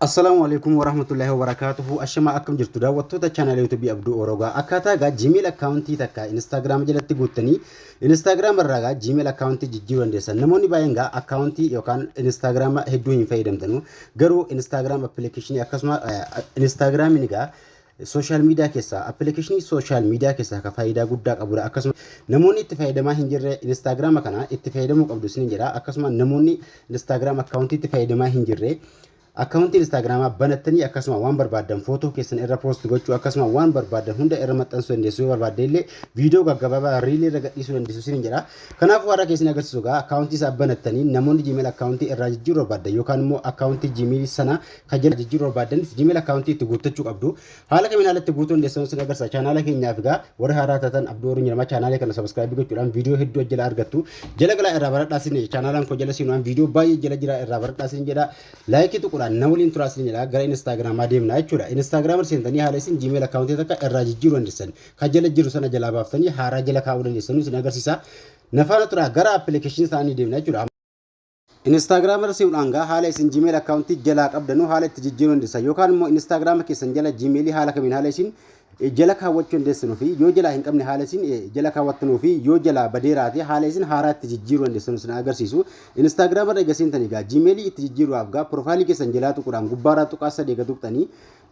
Assalaamu alaikum warahmatullahi wabarakatuhu Ashama akkam jirtu daawwattoota chaanaalii yuutuubii Abduu Oroogaa akkaataa egaa Gmail akkaawuntii takka Instagram jalatti guuttanii Instagram irraa egaa Gmail akkaawuntii jijjiiruu dandeessan namoonni baay'een egaa akkaawuntii yookaan Instagram hedduu hin fayyadamtanu garuu Instagram appilikeeshinii akkasuma Instagramiin egaa Social media keessaa application social media keessaa ka faayidaa guddaa qabudha akkasuma namoonni itti fayyadamaa hin jirre instagram kana itti fayyadamuu qabdu isinin jedha akkasuma namoonni instagram account itti fayyadamaa hin jirre account instagram banattanii akkasuma waan barbaaddan footoo keessan irra post gochuu akkasuma waan barbaaddan hunda irra maxxansuu dandeessu yoo barbaadde illee viidiyoo gaggabaabaa riilii irra gadhiisuu dandeessu isinin jedha kanaafuu har'a keessan agarsiisu gaa account isaa banattanii namoonni gmail account irraa jijjiiruu barbaaddan yookaan immoo account gmail sana Kan jenna jijjiiruu barbaaddanis Gmail account itti guuttachuu qabdu. Haala kamiin haala itti guutuun deessan sin agarsiisa. Chaanaala keenyaaf egaa warri haaraa taatan Abduu Warri Jedhama chaanaala kana subscribe gochuudhaan viidiyoo hedduu jala argattu. Jala galaa irraa baradhaa sin jedha. Chaanaalaan koo jala seenuudhaan viidiyoo baay'ee jala jira irraa baradhaa sin jedha. Laayikii tuquudhaan na waliin turaa sin jedha. Gara Instaagiraamaa deemna jechuudha. Instaagiraamar seentanii haala isin Gmail account takka irraa jijjiiruu dandeessan. Kan jala jiru sana jalaa baaftanii haaraa jala kaa'uu dandeessan sin agarsiisa. Nafaana turaa gara application isaanii deemna jechuudha. Instagram irra seenudhaan gaa haala isin Gmail account jalaa qabdanu haala itti jijjiiruu dandeessan yookaan immoo Instagram keessan jala Gmail haala kamiin haala isin jala kaawwachuu dandeessanu fi yoo jalaa hin qabne haala isin jala kaawwattanuu fi yoo jalaa badeeraate haala isin haaraa itti jijjiiruu dandeessanu isin agarsiisu. Instagram irra egaa seentanii gaa Gmail itti jijjiiruudhaaf gaa profaayilii keessan jalaa tuquudhaan gubbaarraa tuqaa sadii eega tuqxanii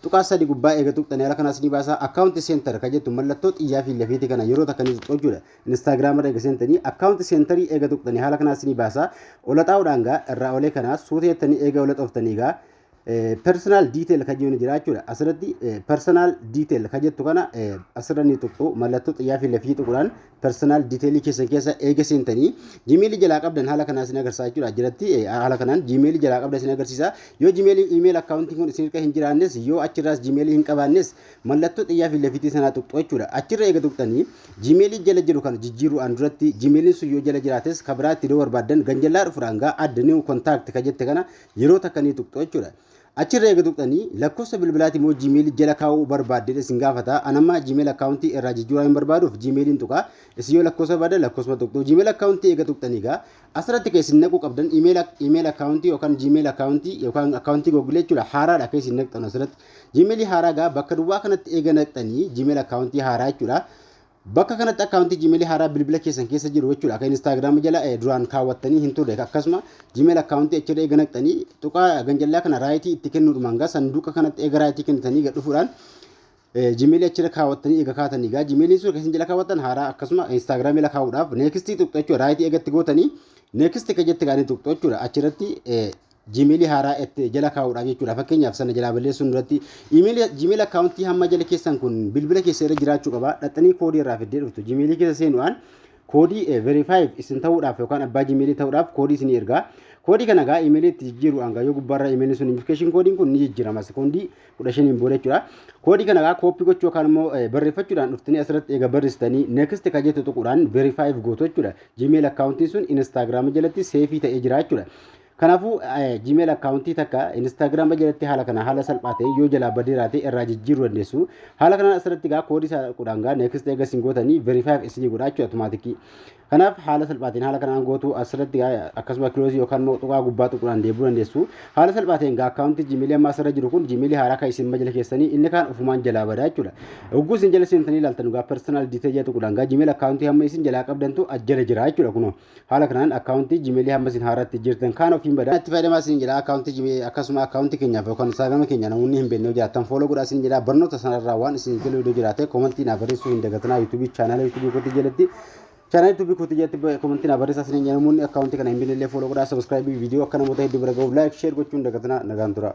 tuqaa sadii gubbaa eega tuqxanii haala kanaas ni baasaa account center kan jettu mallattoo xiyyaa fi lafiitii kana yeroo takka ni tuqxu jechuudha. Instagram irra ega sentani account centerii ega tuqtani haala kanaa sini baasa ola xaa'uudhaan gaa irraa olee kanaa suuta jettanii ega ola xoftanii gaa personal detail kan jiru jira jechuudha asirratti personal detail kan jettu kana asirra ni tuqxu mallattoo xiyyaa fi lafii tuquudhaan personal detail keessan keessa eega seentanii jimeelii jalaa qabdan haala kanaa isin agarsiisa jechuudha jiratti haala kanaan jimeelii jalaa qabdan isin agarsiisa yoo jimeelii iimeel akkaawuntiin kun isin irka hin jiraannes yoo achirraas jimeelii hin qabaannes mallattoo xiyyaa fi lafiitii sanaa tuqxu jechuudha. Achirra eega tuqxanii jimeelii jala jiru kana jijjiiruudhaan duratti jimeeliin sun yoo jala jiraates ka biraatti yoo barbaaddan ganjallaa dhufuudhaan gaa adda new contact ka jette kana yeroo takka ni tuqxu jechuudha. Achirra eega tuqxanii lakkoofsa bilbilaati moo jimeelii jala kaa'uu barbaadde isin gaafata. Anamma jiimeel akkaawuntii irraa jijjiiraa hin barbaaduuf jimeeliin tuqa. Isin yoo lakkoofsa barbaaddan lakkoofsa tuqxu. Jiimeel akkaawuntii eega tuqxanii gaa asirratti ka isin naquu qabdan iimeel akkaawuntii yookaan jiimeel akkaawuntii yookaan akkaawuntii googilee jechuudha haaraadha ka isin naqxan asirratti. Gmail haaraa egaa bakka duwwaa kanatti eega naqxanii Gmail akkaawuntii haaraa jechuudha. Bakka kanatti akkaawuntii Gmail haaraa bilbila keessan keessa jiru jechuudha. Akka Instagram jala eh, duraan kaawwattanii hin turre akkasuma Gmail akkaawuntii achirra eega naqxanii tuqaa ganjallaa kana raayitii itti kennuudhumaan egaa sanduuqa kanatti eega raayitii kennitanii gad dhufuudhaan Gmail achirra kaawwattanii eega kaatanii egaa Gmail sun keessan jala kaawwattan haaraa akkasuma Instagram jala kaa'uudhaaf neekistii tuqxu jechuudha. Raayitii eegatti gootanii neekistii ka jette gaanii tuqxu jechuudha. Achirratti Gmail haaraa itti jala kaa'uudhaaf jechuudha. Fakkeenyaaf sana jalaa balleessuun duratti email Gmail akkaawuntii hamma jala keessan kun bilbila keessa irra jiraachuu qaba. Dhaxxanii koodii irraa fiddee dhuftu. Gmail keessa seenuudhaan koodii eh, verify isin ta'uudhaaf yookaan abbaa Gmail ta'uudhaaf koodii isin ergaa. Koodii kana gaa email itti jijjiiruudhaan gaa yoo gubbaarra email sun notification koodiin kun ni jijjiirama. Sekoondii kudha shaniin booda jechuudha. Koodii kana egaa kooppii gochuu yookaan immoo barreeffachuudhaan dhuftanii asirratti eega barreessitanii next kan jettu tuquudhaan verify gootu jechuudha. Gmail akkaawuntiin sun Instagram jalatti seefii ta'ee jira jechuudha. Kanaafuu Gmail akkaawuntii takka Instagram jalatti haala kana haala salphaa ta'e yoo jalaa badee raate irraa jijjiiruu dandeessu. Haala kanaan asirratti egaa koodii isaa tuquudhaan egaa next eega isin gootanii verify isinii godha jechuudha automaatikii. Kanaaf haala salphaatiin haala kanaan gootu asirratti akkasuma kiloozii yookaan immoo tuqaa gubbaa tuquudhaan deebuu dandeessu. Haala salphaatiin gaa akkaawuntii jiimiilii amma asirra jiru kun jiimiilii haaraa kan isin majila keessanii inni kaan ofumaan jalaa badaa jechuudha. Ugguu isin jala seentanii ilaaltan gaa personal detail jedha tuquudhaan gaa jiimiil akkaawuntii hamma isin jalaa qabdantu ajjala jira jechuudha kunoo. Haala kanaan akkaawuntii jiimiilii hamma isin haaraatti jirtan kaan ofiin badaa. Itti fayyadamaa isin jedha akkaawuntii jiimiilii akkasuma akkaawuntii keenyaaf yookaan instaagiraama keenya namoonni hin beekne jiraatan fooloo godhaa isin jedha barnoota sanarraa waan isin galu yoo jiraate koomantii naa barreessuu hin dagatinaa yuutuubii chaanaala yuutuubii kootii jalatti Channel YouTube kooti jatti komantii na barreessaa isiniin jedha namoonni akkaawuntii kana hin binne illee follow godhaa subscribe viidiyoo akka namoota hedduu bira ga'uuf like share gochuun dagatinaa nagaan turaa.